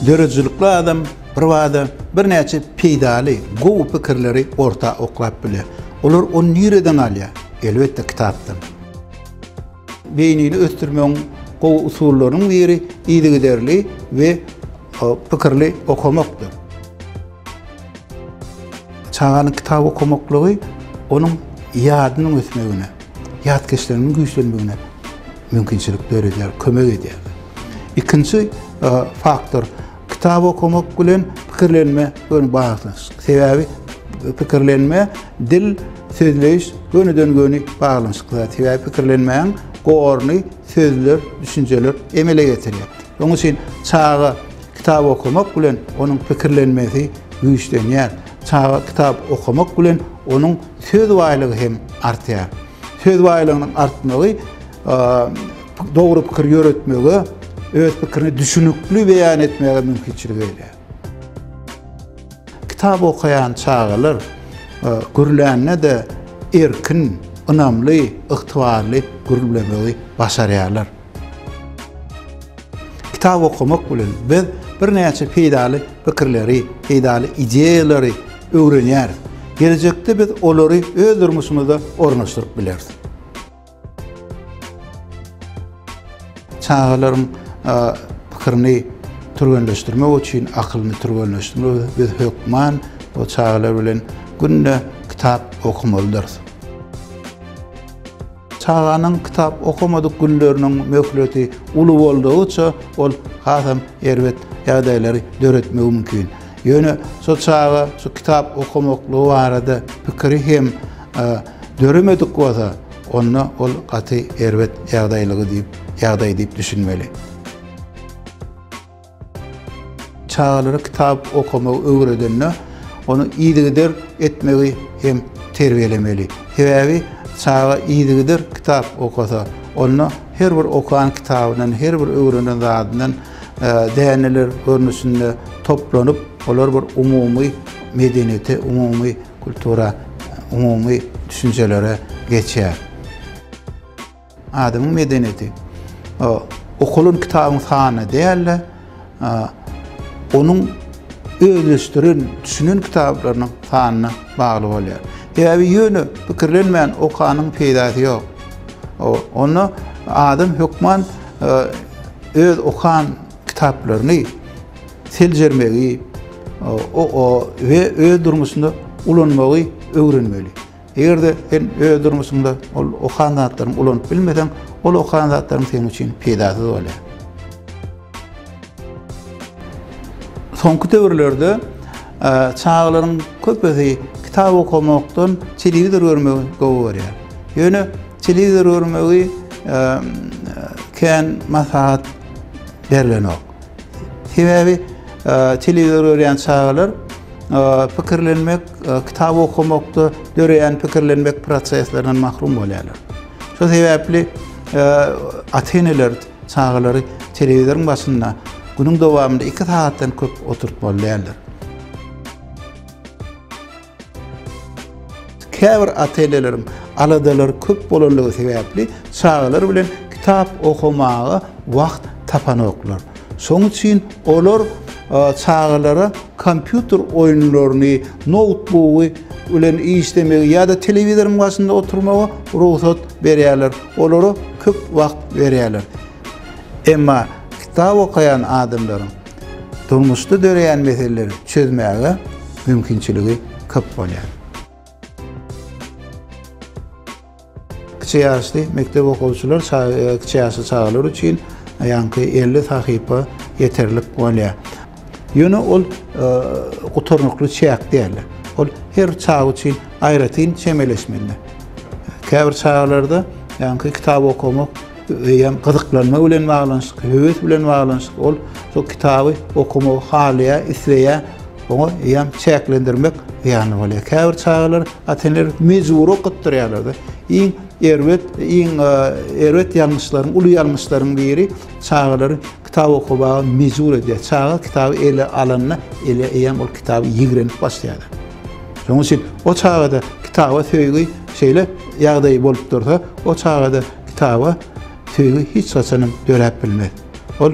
döredijilikli adam birbada birnäçe peýdaly, gowy pikirleri orta oklap bilýär. Olar ony nireden alýar? Elbetde kitapdan. Beýnini ösdürmegiň gowy usullarynyň biri yzygiderli we pikirli okamakdyr. Çaganyň kitap okamaklygy onuň ýadynyň ösmegine, ýat geçiliginiň güýçlenmegine mümkinçilik döredýär, kömek edýär. Ikinji e, faktor, kitap okamak bilen pikirlenme göni baglanyşyk. Sebäbi e, pikirlenme, dil, sözleýiş gönüden göni baglanyşykly. Sebäbi pikirlenmäň gorny sözler, düşünjeler emele getirýär. Onuň üçin çaga Kitap okamak bilen onuň pikirlenmesi güýçlenýär. Çaga kitap okamak bilen onuň söz baýlygy hem artýar. Söz baýlygynyň artmagy dogry pikir ýöretmegi, öz pikirini düşünikli beýan etmegi mümkinçilik berýär. Kitap okaýan çagalar gürlände-de erkin, ynamly, ygtybarly gürlemegi başarýarlar. Kitap okamak bilen biz birnäçe peýdaly pikirleri, peýdaly ideýalary öwrenýäris. Gelejekde biz olary öz durmuşymyza ornaşdyryp bileris. Çagalaryň pikirini türgenleşdirmek üçin, akylyny türgenleşdirmek üçin biz hökman o çagalar bilen günde kitap okumaldyrys. Çaganyň kitap okamadyk günleriniň möhleti uly boldugyça, ol hasam erbet ýagdaýlary döretmegi mümkin. Ýöne şo çaga şu kitap okamaklygy barada pikiri hem döremedik bolsa, onda ol gaty erbet ýagdaýlygy diýip, ýagdaý diýip düşünmeli. Çagalara kitap okamagy öwredende, ony yzygider etmegi hem terbiýelemeli. Sebäbi çaga yzygider kitap okasa, onda her bir okan kitabyndan, her bir öwrenen zadyndan däneler görnüşinde toplanyp, olar bir umumy medeniýete, umumy kultura, umumy düşünjelere geçýär. Adamyň medeniýeti okalan kitabyň sanyna däl-de, onuň özleşdiren, düşünen kitaplarynyň sanyna bagly bolýar. Sebäbi ýöne pikirlenmän okanyň peýdasy ýok. Onda adam hökman öz okan kitaplaryny seljermegi we öz durmuşynda ulanmagy öwrenmeli. Eger-de sen öz durmuşyňda ol okan zatlaryňy ulanyp bilmeseň, ol okan zatlaryň seniň üçin peýdasyz bolýar. Soňky döwürlerde çagalaryň köpüsi kitap okamakdan telewizor görmegi gowy görýär. Ýöne telewizor görmegi kän maslahat berlenok. Sebäbi telewizor görýän çagalar pikirlenmek, kitap okamakda döreýän pikirlenmek proseslerinden mahrum bolýarlar. Şu sebäpli ata-eneler çagalary telewizoryň başynda günüň dowamynda 2 sagatdan köp oturtmaly däldir. Käbir ata-eneleriň aladalary köp bolanlygy sebäpli çagalar bilen kitap okamaga wagt tapanoklar. Şonuň üçin olar çagalara kompýuter oýunlaryny, noutbugy bilen işlemegi ýa-da telewizoryň başynda oturmagy rugsat berýärler. Olara köp wagt berýärler. Emma kitap okaýan adamlaryň durmuşda döreýän meseleleri çözmäge mümkinçiligi köp bolýar. Kiçi ýaşly mekdep okuwçylar kiçi ýaşly çagalar üçin ýaňky elli sahypa ýeterlik bolýar. Ýöne ol gutarnykly çäk däl. Ol her çag üçin aýratyn çemeleşmeli. Käbir çagalarda ýaňky kitap okamak eýýäm gyzyklanma bilen baglanyşykly, höwes bilen baglanyşykly. Ol şol kitaby okamagy halaýar, isleýär. Oňa eýýäm çäklendirmek ýaly bolýar. Käbir çagalar ata-eneler mejbury okatdyrýarlar-da. Iň erbet, iň erbet ýalňyşlaryň, uly ýalňyşlaryň biri çagalary Kitap okamaga mejbur edýär. Çaga kitaby ele alanda, ele eýýäm ol kitaby ýigrenip başlaýar. Şonuň üçin o çagada kitaba söýgi şeýle ýagdaý bolup dursa, o çagada kitaba söýgi hiç haçanam döräp bilmez. Ol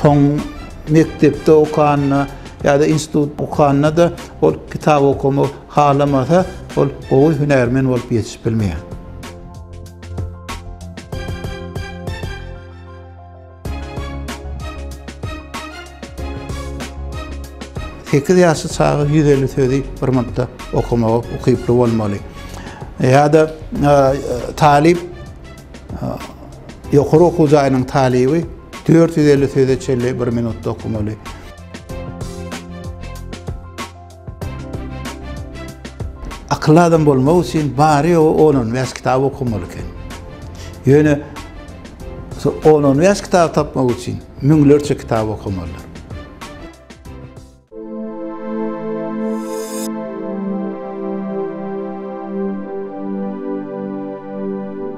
soň mekdepde okanda ýa-da institut okanda-da ol kitap okamak halamasa, ol gowy hünärmen bolup ýetişip bilmeýär. Sekiz ýaşly çaga ýüz elli sözi bir minutda okamaga ukyply bolmaly. Ýa-da e, talyp e, ýokary okuw jaýynyň talyby dört ýüz elli söze çenli bir minutda okamaly. Akylly adam bolmak üçin bary ýogy on on bäş kitap okamaly eken. Ýöne on on bäş kitap tapmak üçin müňlerçe kitap okamalydyr.